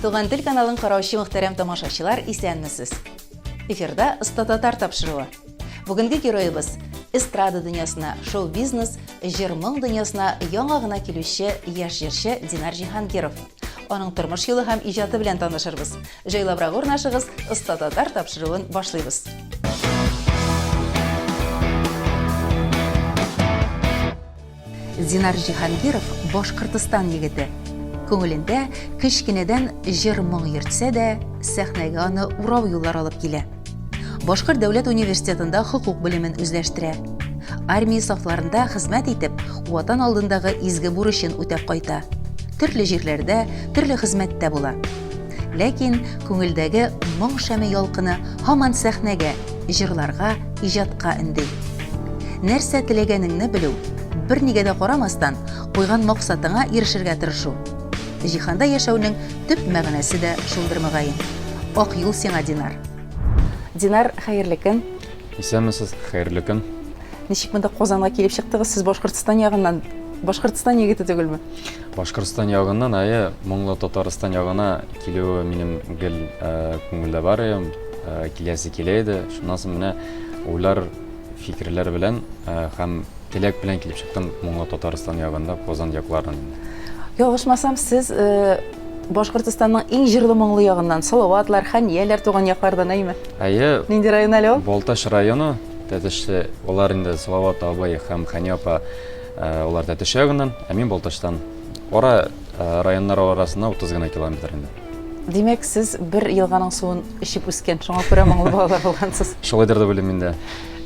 Туган тел каналын караучы мөхтәрәм тамашачылар, исәнмесез! Эфирда Оста татар тапшыруы. Бүгенге героебыз эстрада дөньясына, шоу-бизнес, җыр-моң дөньясына яңа гына килүче яшь җырчы Динар Җиһангиров. Аның тормыш юлы һәм иҗаты белән танышырбыз. Җайлабрак урнашыгыз, Оста татар тапшыруын башлыйбыз. Зинар Җиһангиров, Башкортостан егете. Күңелендә кечкенәдән җыр-моң йөртсә дә, сәхнәгә аны урау юллар алып килә. Башкорт дәүләт университетында хокук белемен үзләштерә. Армия сафларында хезмәт итеп, Ватан алдындагы изге бурычын үтәп кайта. Төрле җирләрдә, төрле хезмәттә була. Ләкин күңелдәге моң шәме ялкыны һаман сәхнәгә, җырларга, иҗатка өнди. Нәрсә теләгәнеңне белү, бернигә дә карамастан, куйган максатыңа ирешергә тырышу. Җиһанда яшәүнең төп мәгънәсе дә шулдыр мөгаен. Ак юл сиңа, Динар. Динар, хәерле көн. Исәнмесез, хәерле көн. Ничек монда Казанга килеп чыктыгыз? Сез Башкортстан ягыннан, Башкортстан егете түгелме? Башкортстан ягыннан ае моңлы Татарстан ягына килүе минем гел күңелдә бар ием, киләсе килә иде. Шуннан соң менә уйлар, фикерләр белән һәм теләк белән килеп чыктым моңлы Татарстан ягында, Казан якларын. Ялгышмасам, сез Башкортстанның иң җырлы моңлы ягыннан, Салаватлар, Хәнияләр туган яклардан әйме? Әйе. Нинди район әле ул? Балтач районы, Тәтешле. Алар инде Салават абый һәм Хәния апа Алар Тәтеш ягыннан, ә мин Балтачтан. Ара районнар арасына 30 гына километр инде. Димәк, сез бер елганың суын эчеп үскән, шуңа күрә моңлы балалар булгансыз. Шулайдыр дип уйлыйм инде.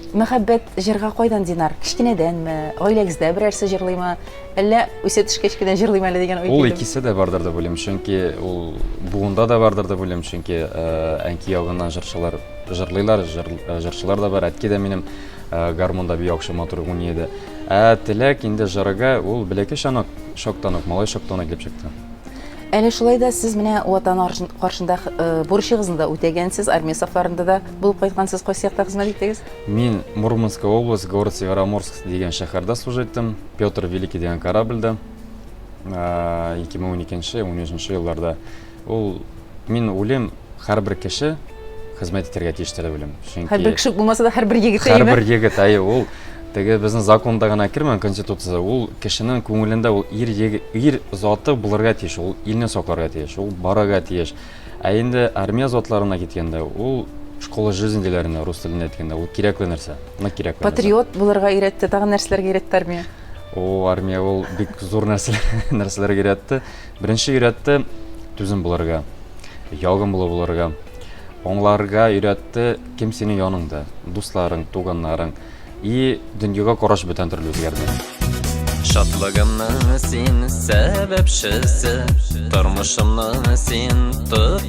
Мәхәббәт җырга кайдан, Динар? Кечкенәдәнме? Гаиләгездә берәрсе җырлыймы? Әллә үсә төшкәч кенә җырлыйм әле дигән уй килдеме? Ул икесе дә бардыр дип уйлыйм, чөнки ул буында да бардыр дип уйлыйм, чөнки әнки ягыннан җырчылар җырлыйлар, җырчылар да бар. Әтки дә минем гармунда бик яхшы матур уйный иде. Ә теләк инде жырыга ул бәләкәй чанак чактан ук, малай чактан ук килеп чыкты. Әле шулай да сез менә Ватан каршында бурычыгызны да үтәгәнсез, армия сафларында да булып кайткансыз, кайсы якта хезмәт иттегез? Мин Мурманская область, город Североморск дигән шәһәрдә служа иттем, Петр Великий дигән корабльдә 2012-13 елларда. Ул мин уйлыйм, һәрбер кеше хезмәт итәргә тиеш теләп уйлыйм. Чөнки Һәрбер кеше булмаса да һәрбер егет әйме? Һәрбер егет, әйе, ул теге безнең законда гына кермәгән конституцияда, ул кешенең күңелендә ул ир егет, ир заты булырга тиеш, ул илне сакларга тиеш, ул барырга тиеш. Ә инде армия затларына киткәндә, ул школа жизни диләренә рус телендә әйткәндә, ул кирәкле нәрсә. Ны кирәкле. Патриот булырга өйрәтте, тагын нәрсәләргә өйрәтте армия? О, армия ул бик зур нәрсәләргә өйрәтте. Беренче өйрәтте түзем булырга, ягымлы булырга. Аңларга өйрәтте кем синең яныңда, дусларың, туганнарың. И дөньяга караш бүтән төрле үзгәрде. Шатлыгымның син сәбәпчесе, тормышымның син тот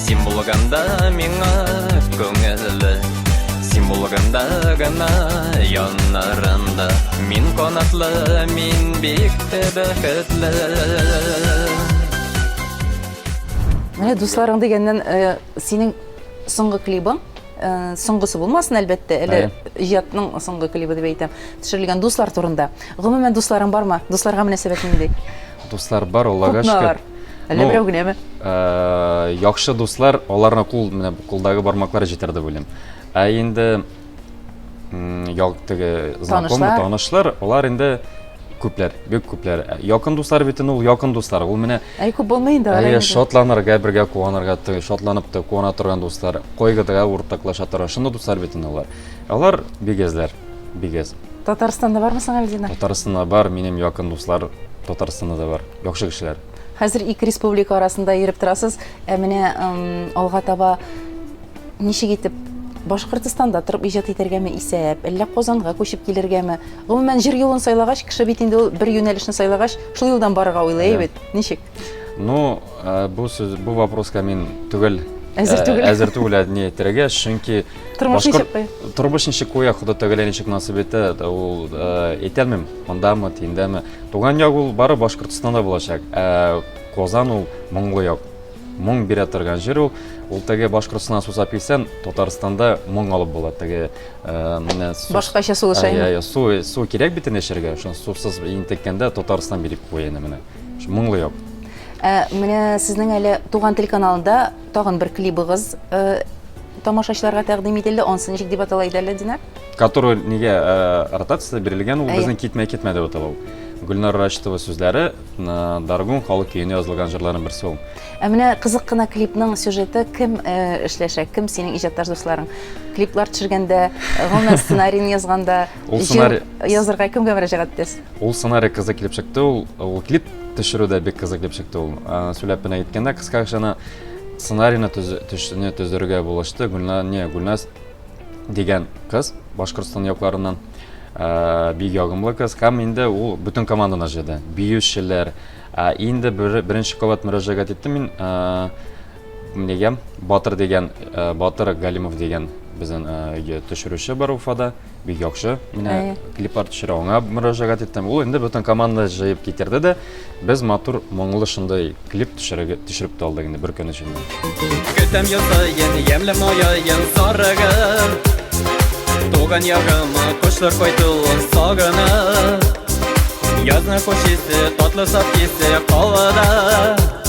Син булганда миңа күңелле Син булганда гына яннарында Мин канатлы, мин бик тә бәхетле Менә дусларың дигәннән э, синең соңгы клибың э, соңгысы булмасын әлбәттә әле иҗатның соңгы клибы дип әйтәм төшерелгән дуслар турында гомумән дусларың бармы дусларга мөнәсәбәт нинди дуслар бар, Аллага Күпме шөкер. алар? Әллә Ну, берәү генәме? Э, яхшы дуслар, аларны кул менә кулдагы бармаклар җитәр дип уйлыйм. Ә инде м, як теге знакомый, Танышлар. танышлар, алар инде күпләр, бик күпләр. Ә Якын дуслар бит инде ул якын дуслар. Ул менә Әй, күп булмый инде. алар Әйе, инде. шатланырга, бергә куанырга, ты- шатланып та куана торган дуслар, кайгыда уртаклаша торган шундый дуслар бит инде алар. Алар бигәзләр. Бигәс. Татарстанда бармы соң Альдина? Татарстанда бар, минем якын дуслар Татарстанда да бар. Яхшы кешеләр. Хәзер ике республика арасында йөреп торасыз. Ә менә алга таба ничек итеп Башкортостанда торып иҗат итәргәме исәп, әллә Казанга күчеп килергәме? Гомумән, җыр юлын сайлагач, кеше бит инде ул бер юнәлешне сайлагач, шул юлдан барырга уйлый бит. Ничек? Ну, э, бу сүз, бу вопроска мин түгел. Әзер э, түгел. Әзер түгел, әдни әйтергә, чөнки Тормыш ничек куя? Тормыш ничек куя, Хода тәгәлә ничек насып итә, ул әйтәлмим, мондамы, тиндәме. Туган як ул бары Башкортостанда булачак. Ә Казан ул моңлы як. Моң бирә торган җир ул. Ул теге Башкортостан сусап килсән, Татарстанда моң алып була. Теге менә Башкача су эчә. Ай, су, су кирәк бит инде эчәргә. Шуны сусыз интеккәндә Татарстан биреп куя инде менә. Моңлы як. Ә менә сезнең әле Туган тел каналында Тагын бер клибыгыз тамашачыларга тәкъдим ителде. Ансы ничек дип атала иде әле, Динар? Который нигә ротацияда бирелгән, ул безнең китмә китмә дип атала ул. Гөлнар Рашитова сүзләре, Даргун халык көенә язылган җырларның берсе ул. Ә менә кызык кына клипның сюжеты кем эшләшә, кем синең иҗатташ дусларың? Клиплар төшергәндә, гомумән сценарийны язганда Ул сценарий... Язырга кемгә мөрәҗәгать итәсез? Ул сценарий кызы килеп чыкты, ул, ул клип төшерү дә бик кызык килеп чыкты ул. Сөйләп кенә әйткәндә, кыска гына сценарийны төшүне төзергә булышты. Гүлназ, не, Гүлназ дигән кыз, Башкортстан якларыннан бик ягымлы кыз һәм инде ул бөтен команданы җыйды. Биючеләр, инде беренче кабат мөрәҗәгать иттем мин Нигә? Батыр дигән, э, Батыр Галимов дигән безнең э, видео төшерүче бар Уфада. Бик яхшы. Менә Әйе. клиплар төшерә. Аңа мөрәҗәгать иттем. Ул инде бөтен команда җыеп китерде дә, без матур моңлы шундый клип төшереп төшереп тә алдык инде бер көн эчендә. Көтәм ел саен ямьле мояен сарыгын Туган ягыма кошлар кайтуын сагынып Язны хуш исе, татлы саф исе калада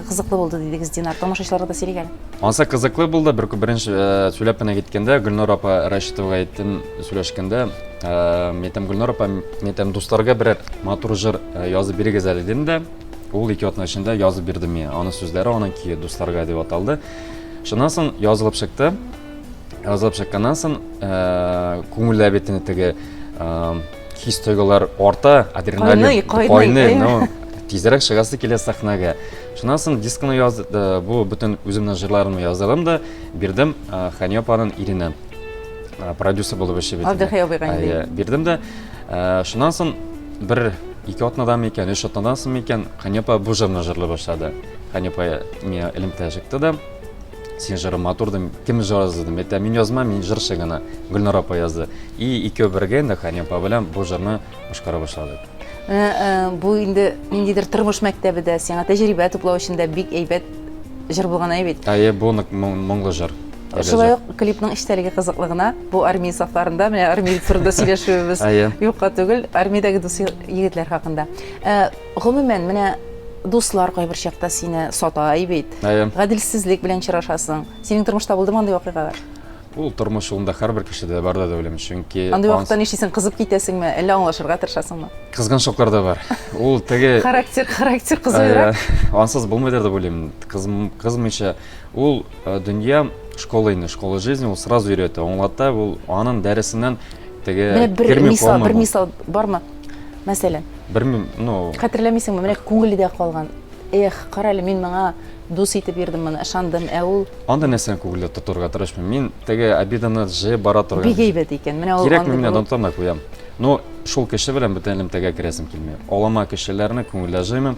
Кызыклы булды дидегез, Динар. Тамашачыларга да сөйләгән. Ансы кызыклы булды. Бер беренче э, сөйләп кенә киткәндә Гөлнур апа Рәшитовага әйттем, сөйләшкәндә, э, мин әйтәм, Гөлнур апа, мин әйтәм, дусларга берәр матур җыр э, язып бирегез әле дидем дә. Ул ике атна эчендә язып бирде миңа. Аның сүзләре, аның көе дусларга дип аталды. Шуннан соң язылып чыкты. Язылып чыкканнан соң, э, күңелләр бит инде теге э, хис тойгылар арта адреналин кайный кайный кайный но тизрәк чыгасы килә сәхнәгә шуннан соң дискны яз э, бу бөтен үземнең җырларымны яздырдым да бирдем э, хәния апаның иренә э, продюсер булып эшли бит Абдыхай абыйга инде. Ә, бирдем дә э, шуннан соң бер ике атнадамы икән өч атнадан соңмы икән хәния апа бу җырны җырлый башлады хәния апа миңа элемтә чыкты да Син жыры матур дим, кем жазды дим. Это мин язма, мин жырчы гына. Гөлнара апа язды. И икәү бергә инде Хани апа белән бу жырны башкара башладык. Э, э, бу инде ниндидер тормыш мәктәбе дә, сиңа тәҗрибә туплау өчен дә бик әйбәт жыр булган әй бит. Әйе, бу нык моңлы жыр. Шулай ук клипның эчтәлеге кызыклы гына. Бу армия сафларында, менә армия турында сөйләшүебез юкка түгел, армиядәге дус егетләр хакында. Э, Гомумән, менә дуслар кайбер чакта сине сатай бит. Әйе. Гаделсезлек белән чырашасың. Синең тормышта булдымы андый вакыйгалар? Ул тормыш юлында һәрбер кешедә бар да дәүлем, чөнки Андый вакытта анс- нишлисең, кызып китәсеңме, әллә аңлашырга тырышасыңмы? кызган чаклар да бар. Ул теге Характер, характер Әйе, кызуырак. ансыз булмыйдыр дип уйлыйм. Кызм- Кызмыйча ул э, дөнья школа инде, школа жизни, ул сразу өйрәтә, аңлата, ул анын дәресеннән теге Менә бер керми мисал, калмый бер бу. мисал бармы? Мәсәлән? Белмим, ну... Хәтерләмисеңме, менә күңелдә калган, эх, кара әле, мин моңа дус итеп бирдем моны, ышандым, ә ул... Анда нәрсәне күңелдә тотырга тырышмыйм. Мин теге обиданы җыеп бара торган. Бик әйбәт икән. Менә ул Кирәкме менә онытырмай куям. Но шул кеше белән бөтен элемтәгә керәсем килми. Алама кешеләрне күңелдә җыймыйм.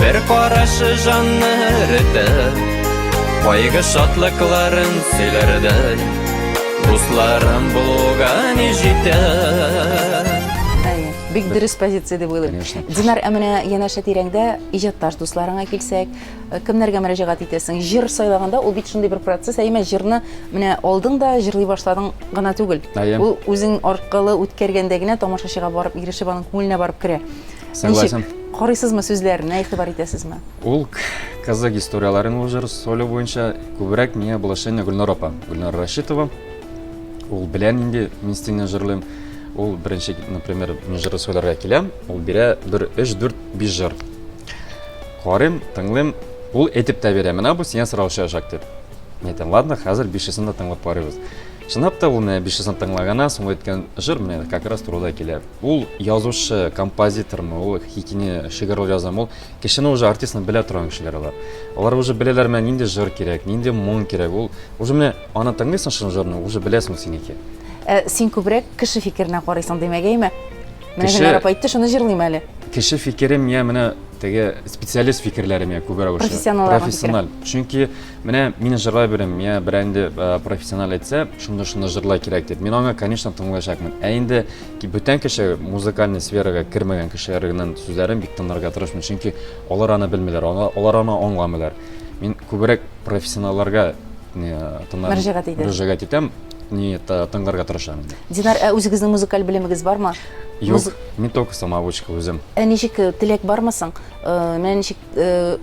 Бер карашы жанны эретеп Кайгы шатлыкларын сөйләрдәй Дусларым булуга ни җитә Бик дөрес позиция дип уйлыйм. Конечно. Динар, ә менә янәшә тирәңдә иҗатташ дусларыңа килсәк, э, кемнәргә мөрәҗәгать итәсең? Җыр сайлаганда ул бит шундый бер процесс, әйме җырны менә алдың да җырлый башладың гына түгел. Ул үзең аркылы үткәргәндә генә тамашачыга барып ирешеп аның күңеленә барып керә. Согласен. Ничек? Карыйсызмы сүзләренә, игътибар итәсезме? Ул казак историяләрен уже соло буенча күбрәк миңа булышыны Гөлнар апа, Гөлнар Рашитова. Ул белән инде мин стильно җырлыйм. Ул беренче, например, мин җыры сөйләргә киләм, ул бирә бер 3 4 5 җыр. Карыйм, тыңлыйм, ул әйтеп тә бирә, менә бу сиңа сораучы җак дип. Мин әйтәм, ладно, хәзер бишесен дә тыңлап карыйбыз. Чынлап та ул менә 500 тыңлаганнан соң әйткән җыр менә как раз турыда килә. Ул язучы, композитормы, ул хикине шигырь язамы, ул кешене уже артистны белә торган кешеләр алар. Алар уже беләләр менә нинди җыр кирәк, нинди моң кирәк. Ул уже менә аны тыңлыйсың шул җырны, уже беләсең синеке. Ә син күбрәк кеше фикеренә карыйсың димәгәйме? Менә кеше... Гөлнара әйтте, шуны җырлыйм әле. Кеше фикерем я менә теге специалист фикерләре миңа күбрәк ошый. Профессиональ. Чөнки Менә мин җырлай беләм, я берәр инде профессионал әйтсә, шундый шундый җырлай кирәк дип. Мин аңа, конечно, тыңлаячакмын. Ә инде ки бүтән кеше, музыкальный сферага кермәгән кешеләр генә сүзләрен бик тыңларга тырышмыйм, чөнки алар аны белмиләр, алар аны аңламыйлар. Мин күбрәк профессионалларга мөрәҗәгать итәм. Мөрәҗәгать итәм, не тыңларга тырышам. Динар, ә үзегезнең музыкаль белемегез бармы? Юк, мин только самоучка үзем. Ә ничек теләк бармы соң? Менә ничек Э,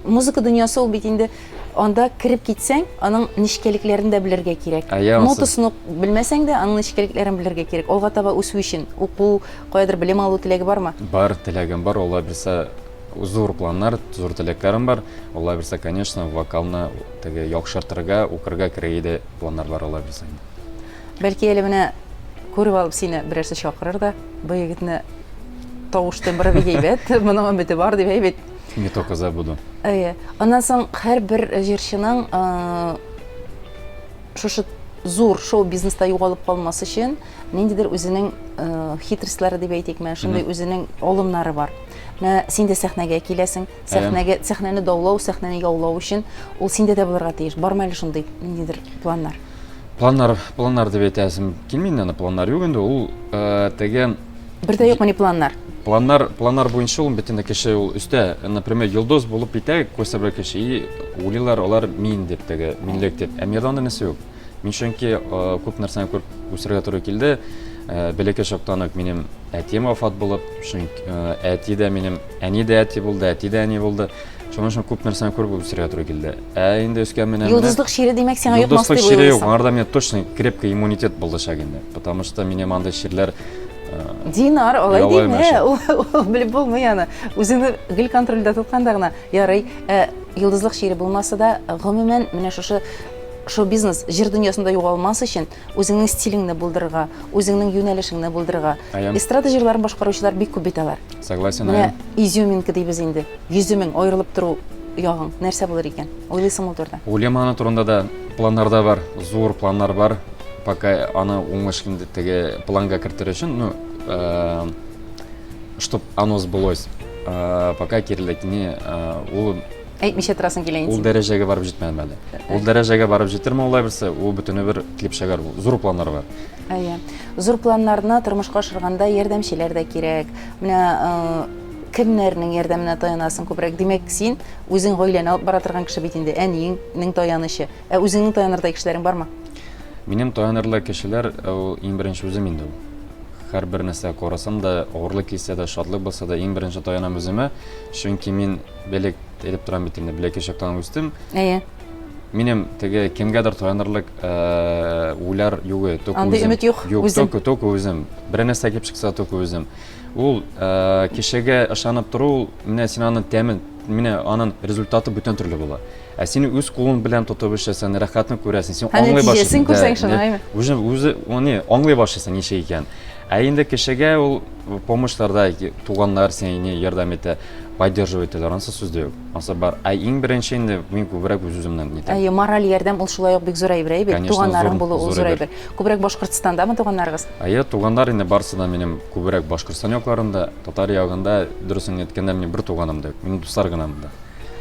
музыка дөньясы ул бит инде анда кереп китсәң, аның нечкәлекләрен дә белергә кирәк. Нотасын белмәсәң дә, аның нечкәлекләрен белергә кирәк. Алга таба үсү өчен уку, каядыр белем алу теләге бармы? Бар, теләгем бар. Алла бирсә, зур планнар, зур теләкләрем бар. Алла бирсә, конечно, вокалны теге яхшыртырга, укырга керергә дә планнар бар, Алла бирсә. Бәлки әле менә күреп алып сине берәрсе чакырыр да, бу егетне Тавыш тембры бик әйбәт, моның өмете бар дип әйбәт. Не только за буду. Әйе. Аннан соң һәрбер җырчының шушы зур шоу-бизнеста югалып калмас өчен ниндидер үзенең э, хитрестләре дип әйтикме, шундый үзенең алымнары бар. Менә син дә сәхнәгә киләсең, сәхнәгә сәхнәне даулау, сәхнәне яулау өчен ул синдә дә булырга тиеш. Бармы әле шундый ниндидер планнар? Планнар, планнар дип әйтәсем килми инде, планнар юк инде. Ул э, теге Бер дә юкмы ни планнар? Планнар, планнар буенча ул бөтен кеше ул өстә, например, йолдыз булып китә күрсәбер кеше, и уйлыйлар алар мин дип теге, минлек дип. Ә миядә андый нәрсә юк. Мин чөнки күп нәрсәне күреп үсәргә туры килде. Бәләкәй чактан ук минем әтием вафат булып, чөнки әти дә минем, әни дә әти булды, әти дә әни булды. Шуның өчен күп нәрсәне күреп үсергә туры килде. Ә инде өскә менә Йолдызлык чире димәк сиңа йотмас дип уйлыйсың. Йолдызлык чире юк, аңарда мне точно крепкий иммунитет булдышак инде. Потому что мне мандый чирләр э, Динар, алай димә. Ул белеп булмый аны. Үзеңне гел контрольдә тотканда гына ярый. Э, йолдызлык чире булмаса да, гомумән, менә шушы шоу-бизнес җир дөньясында югалмас өчен Үзеңнең стилеңне булдырырга, үзеңнең юнәлешеңне булдырырга. Аям. Эстрада җырларын башкаручылар бик күп бит алар. Согласен, Менә аям. изюминка дибез инде. Йөземең, аерылып тору ягың нәрсә булыр икән? Уйлыйсыңмы ул турыда? Уйлыйм аны турында да. Планнарда бар, зур планнар бар. Пока аны уңыш инде теге планга кертер өчен, ну, чтоб оно сбылось, пока киреләйтми, ул Әйтмичә торасың килә инде. Ул дәрәҗәгә барып җитмәдем әле. Ул дәрәҗәгә барып җитермен улай берсе, ул бөтене бер клип шәгәр, зур планнар бар. Әйе. Зур планнарны тормышка ашырганда ярдәмчеләр дә кирәк. Менә кемнәрнең ярдәменә таянасың күбрәк? Димәк, син үзең гаиләне алып бара торган кеше бит инде, әниеңнең таянычы. Ә үзеңнең таянырдай кешеләрең бармы? Минем таянырдай кешеләр ул иң беренче үзем инде ул. Һәрбер нәрсә карасам да, авырлык килсә дә, шатлык булса да, иң беренче таянам үземә, чөнки мин Белек элеп торам бит инде, беләк чактан үстем. Әйе. Минем теге кемгәдер таянырлык э, уйлар юк, только Андый үзем. өмет юк, Юк, үзем. только, только үзем. Бер нәрсә килеп чыкса, только үзем. Ул э, кешегә ышанып тору, ул, менә син аның тәмен, менә аның результаты бүтән төрле була. Ә син үз кулың белән тотып эшләсәң, рәхәтне күрәсең, син Һәм аңлый башлыйсың. нәтиҗәсен күрсәң шуны, әйме? Үзе, үзе, аны аңлый башлыйсың ничек икән. Ә инде кешегә ул помощьларда ки- туганнар сиңа не ярдәм итә, поддерживать итәләр, анысы сүз дә юк. Анысы бар. Ә иң беренче инде мин күбрәк үз-үземнән нитәм. Әйе, мораль ярдәм ул шулай ук бик зур әйбер, әйбер. Конечно, Туганнарың зур- булу ул зур зур әйбер. әйбер. Күбрәк Башкортстандамы туганнарыгыз? Әйе, туганнар инде барысы да минем күбрәк Башкортстан якларында, татар ягында, дөресен әйткәндә, минем бер туганым да юк, минем дуслар гына монда.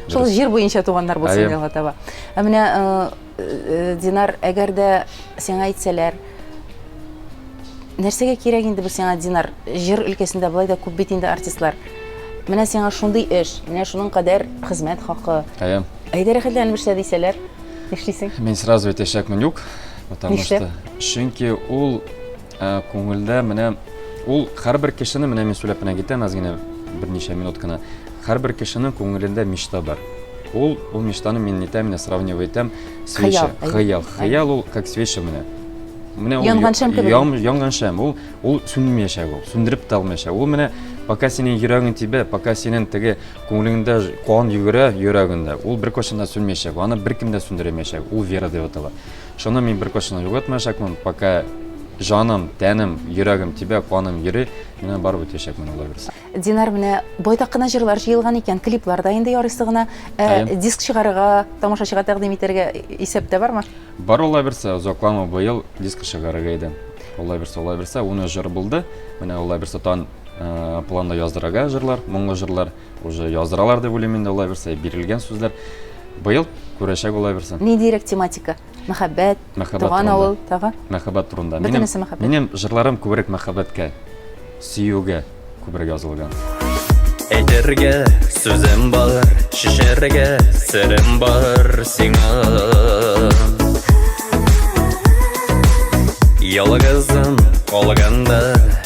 Шул җир буенча туганнар булсын Әйе. алга таба. Ә менә э, э, Динар, әгәр дә сиңа әйтсәләр, нәрсәгә кирәк инде бу сиңа Динар? Җыр өлкәсендә болай да күп бит инде артистлар. Менә сиңа шундый эш, менә шуның кадәр хезмәт хакы. Әйе. Әйдә рәхәтләнеп эшлә дисәләр, нишлисең? Мин сразу әйтәчәкмен юк, потому Нишләп? что чөнки ул Ә күңелдә менә ул һәрбер кешене, менә мин сөйләп менә китәм әз генә берничә минут кына. Һәрбер кешенең күңелендә мечта бар. Ул, ул мечтаны мин нитәм, менә сравнивать итәм. Свеча, Хыял, әйе. хыял. Хыял ул как свеча менә. Менә ул Янган шәм кебек. ян- янган шәм. Ул, ул сүнмәячәк ул, сүндереп тә алмаячак. Ул менә пока синең йөрәгең тибә, пока синең теге күңелеңдә ж- кан йөгерә йөрәгеңдә, ул беркайчан да сүнмәячәк. Аны беркем дә сүндерә алмаячак. Ул вера дип атала. Шуны мин беркайчан да югалтмаячакмын, пока җаным, тәнем, йөрәгем тибә, каным йөри, мин аны барып үтәячәкмен, Алла бирса. Динар, менә байтак кына җырлар җыелган икән, клиплар да инде ярыйсы гына. Ә Әйе. диск чыгарырга, тамашачыга тәкъдим итәргә исәптә бармы? Бар Алла бирса, озакламый быел диск чыгарырга идем. Алла бирса, Алла бирса, уны җыр булды. Менә Алла бирса тан э, планда яздырырга җырлар, моңлы җырлар. Уже яздыралар дип уйлыйм инде улайбырса, бирелгән сүзләр. Быел күрәчәк улайбырса. Ни дирәк тематика? Мәхәббәт, мәхәббәт туган турында. авыл, тагы? Мәхәббәт турында. Минем, мәхәббәт. Минем җырларым күбрәк мәхәббәткә, сөюгә күбрәк язылган. Әйтергә сүзем бар, шешәргә серем бар сиңа. Ялгызым калганда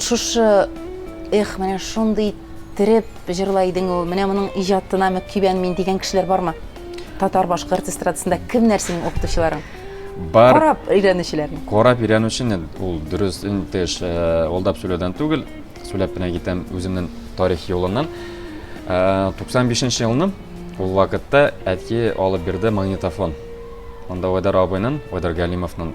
Шушы, эх, менә шундый иттереп җырлай идең ул, менә моның иҗатына мөкибән мин дигән кешеләр бармы? Татар башкорт эстрадасында кемнәр синең укытучыларың? Бар. Карап өйрәнүчеләрне. Карап өйрәнүчене ул дөрес инде алдап э, сөйләүдән түгел, сөйләп кенә китәм үземнең тарих юлыннан. 95 э, нче елны ул вакытта әти алып бирде магнитофон. Анда Айдар абыйның, Айдар Галимовның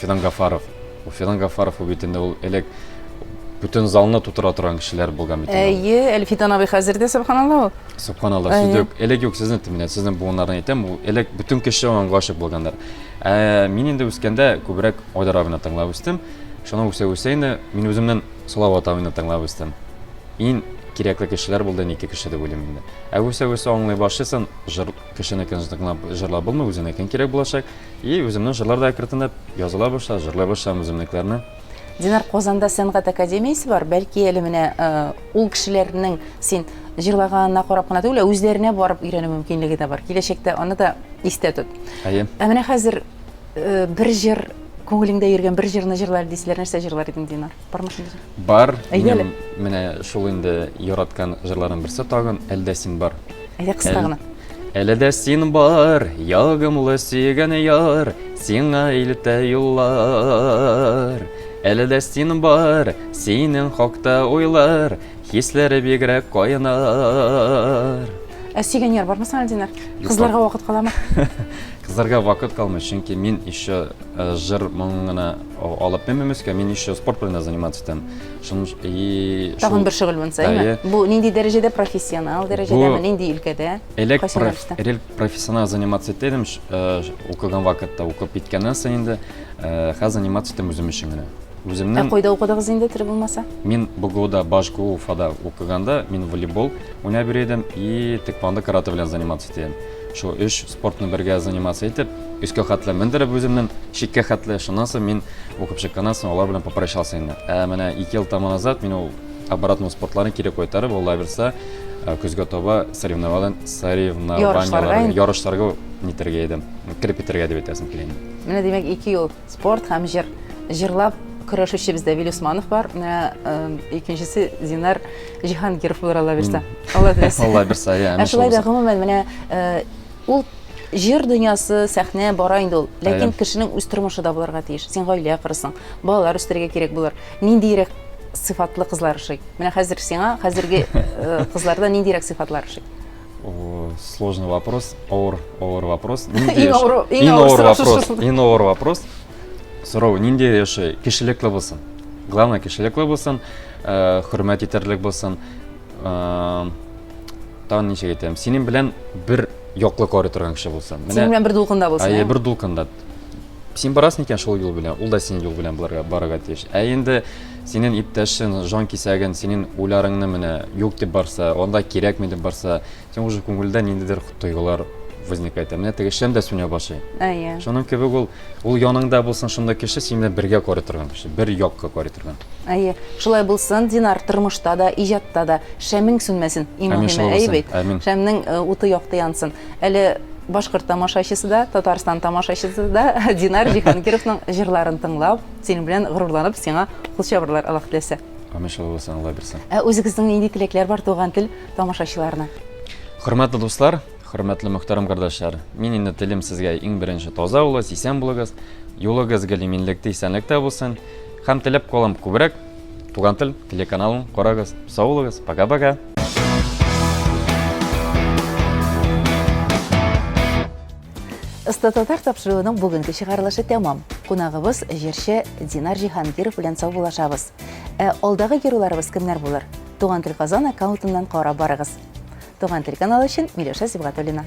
Фидан Гафаров. Ул Фидан Гафаров ул бит инде ул элек бөтен залны тутыра торган кешеләр булган бит. Әйе, Әлфидан абый хәзер дә субханалла ул. Субханалла. Сүз юк. Элек юк сезне тиминә, сезнең буыннарны әйтәм, ул элек бөтен кеше аңа гашык булганнар. Ә мин инде үскәндә күбрәк Айдар абыны тыңлап үстем. Шуның үсә үсә инде мин үземнән Салават абыны тыңлап үстем. Ин кирәкле кешеләр булды, ике кеше дип уйлыйм инде. Ә үсә үсә аңлый башлыйсың, Кешенекен тыңлап җырлап булмый, үзеңнекен кирәк булачак. И үземнең җырлар да әкренләп языла башлады, җырлый башлам үземнекләрне. Динар, Казанда сәнгать академиясе бар. Бәлки әле менә э, ул кешеләрнең син җырлаганына карап кына түгел, ә үзләренә барып өйрәнү мөмкинлеге дә бар. Киләчәктә аны да истә тот. Әйе. Ә менә хәзер э, бер җыр күңелеңдә йөргән бер җырны җырлар дисәләр, нәрсә җырлар идең, Динар? Бармы шундый җыр? Бар. Әйдәле. Менә шул инде яраткан җырларның берсе тагын Әлдә син бар. Әйдә кыска гына. Әле дә син бар, ягымлы сөйгән яр, сиңа илтә юллар. Әле дә син бар, синең хакта уйлар, хисләре бигрәк кайнар. Ә сөйгән яр бармы сиңа, Динар? Кызларга вакыт каламы? Кызларга вакыт калмый, чөнки мин еще э, җыр моңына алып менмим өскә мин еще спорт белән дә заниматься итәм и тагын бер шөгыльләнсә әйме бу нинди дәрәҗәдә профессионал дәрәҗәдәме нинди өлкәдә элек элек профессионал заниматься итә идем э, укыган вакытта укып киткәннән соң инде э, хәзер заниматься итәм үзем өчен генә үземнең ә кайда укыдыгыз инде тире булмаса мин бгуда башгу уфада укыганда мин волейбол уйнап йөри идем и теквондо карате белән заниматься итә идем шул өч Спортны бергә заниматься итеп, өскә хәтле мендереп үземнен, чиккә хәтле, шуннан соң мин укып чыкканнан соң алар белән попрощался инде. Ә менә ике ел тому назад мин ул обратно спортларны кире кайтарып, алла бирса, э, көзгә таба соревновален- Ярышларга соревнованияларга, инде. ярышларга нитәргә идем, кереп китәргә дип әйтәсем килә инде. Менә димәк, ике ел спорт һәм җыр. Җырлап көрәшүче бездә Вилүсманов бар, менә э, икенчесе Зинар Җиһангиров булыр Алла бирса. Алла бирса. Алла бирса, я. Ә шулай да гомумән менә э, ул җыр дөньясы, сәхнә бара инде ул. Ләкин кешенең үз тормышы да булырга тиеш. Син гаилә корысың, балалар үстерергә кирәк булыр. Ниндиерәк сыйфатлы кызлар ошый? Менә хәзер сиңа хәзерге э, кызларда ниндиерәк сыйфатлар ошый? Сложный вопрос, ауыр, ауыр вопрос. Иң авыр, иң авыр вопрос. Иң авыр вопрос. Сорау, нинди яшәй? Кешелекле булсын. Главное, кешелекле булсын, э, хөрмәт итәрлек булсын. Э, Тагын ничек әйтәм? Синең белән бер яклы карый торган кеше булсын. Синең белән бер дулкында булсын. Әйе, ә? бер дулкында. Син барасың икән шул юл белән, ул да синең юл белән барырга, барырга тиеш. Ә инде синең иптәшең, жан кисәген, синең уйларыңны менә юк дип барса, анда кирәкми дип барса, Соң уже күңелдә ниндидер тойгылар возникает. Менә теге шәм дә сүнә башлый. Әйе. Шуның кебек ул, ул яныңда булсын шунда кеше, син белән бергә карый торган кеше, бер якка карый торган. Әйе. Шулай булсын, Динар, тормышта да, иҗатта да шәмең сүнмәсен. Иң мөһиме, әйе бит? Амин. Шәмнең э, уты якты янсын. Әле башкорт тамашачысы да, Татарстан тамашачысы да Динар Җиһангировның җырларын тыңлап, синең белән горурланып, сиңа кул чабарлар Аллаһ теләсә. Амин шулай булсын, Алла бирсен. Ә үзегезнең нинди теләкләр бар туган тел тамашачыларына? Хөрмәтле дуслар, хөрмәтле мөхтәрәм кардәшләр, мин инде телим сезгә иң беренче таза булыгыз, исән булыгыз, юлыгыз гел иминлектә, исәнлектә булсын. Һәм теләп калам күбрәк Туган тел телеканалын карагыз. Сау булыгыз, пока-пока. Оста татар тапшыруының бүгенге чыгарылышы тәмам. Кунагыбыз җырчы Динар Җиһангиров белән саубуллашабыз. Ә алдагы геройларыбыз кемнәр булыр? Туган тел Казан аккаунтыннан карап барыгыз. Туган тел каналы өчен Миләүшә Сибгатуллина.